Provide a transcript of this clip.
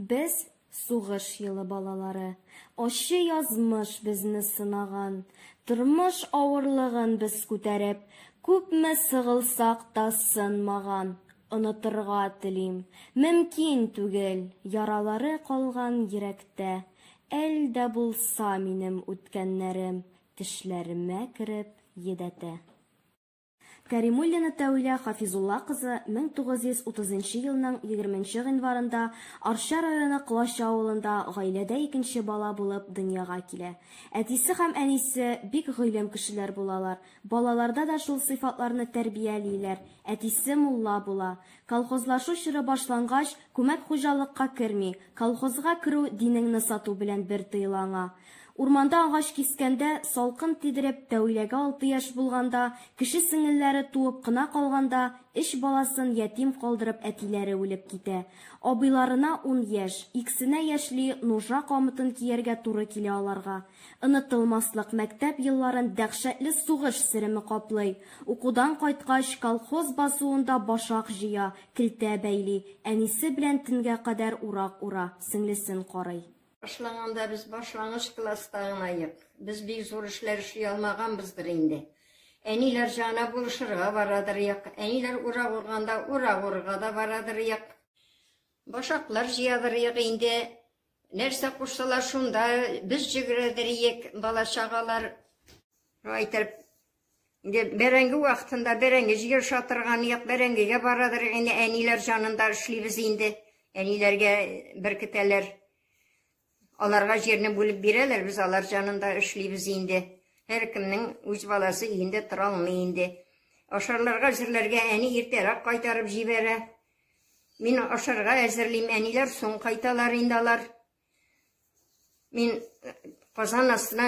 Без сугыш елы балалары. Ачы язмыш безне сынаган. Тормыш авырлыгын без күтәреп, күпме сыгылсак та сынмаган. Онытырга телим. Мөмкин түгел, яралары калган йөрәктә. Әль дә булса минем үткәннәрем тешләремә кереп йөдәтә. Кәримуллина Тәүилә Хафизулла кызы 1930 нчы елның 20 нчы гыйнварында Арча районы Колач авылында гаиләдә икенче бала булып дөньяга килә. Әтисе һәм әнисе бик гыйлем кешеләр булалар, балаларда да шул сыйфатларны тәрбиялиләр, әтисе мулла була, Колхозлашу чоры башлангач, күмәк хуҗалыкка керми, колхозга керү динеңне сату белән бер тоела аңа. Урманда агач кискәндә, салкын тидереп, Тәүиләгә алты яшь булганда, кеше сеңелләре туып кына калганда, өч баласын ятим калдырып әтиләре үлеп китә. Абыйларына ун яшь, иксенә яшьли нужа камытын кияргә туры килә аларга. Онытылмаслык мәктәп елларын дәһшәтле сугыш сереме каплый. Укудан кайткач, колхоз басуында башак җыя, келтә бәйли, әнисе белән төнгә кадәр урак ура, сеңлесен карый. Башлаганда без башлангыч класста гына йк, без бик зур эшләр эшли алмаганбыздыр инде. Әниләр җана булышырга барадыр йк, әниләр урак урганда урак урырга да барадыр йк. Башаклар җыядыр йк инде, Нәрсә кушсалар шунда без җигрәдер иек, бала-чагалар. Әйтеп, бәрәңге вакытында бәрәңге җигер шатырган як бәрәңгегә барадыр инде әниләр җанында эшлибез инде. Әниләргә беркетәләр. Аларга җирне бүлеп бирәләр, без алар җанында эшлибез инде. Һәркемнең үз баласы инде тора алмый инде. Ашарларга җирләргә әни иртәрәк кайтарып җибәрә. Мин ашарга әзерлим, әниләр соң кайталар инде алар. Мин э, казан астына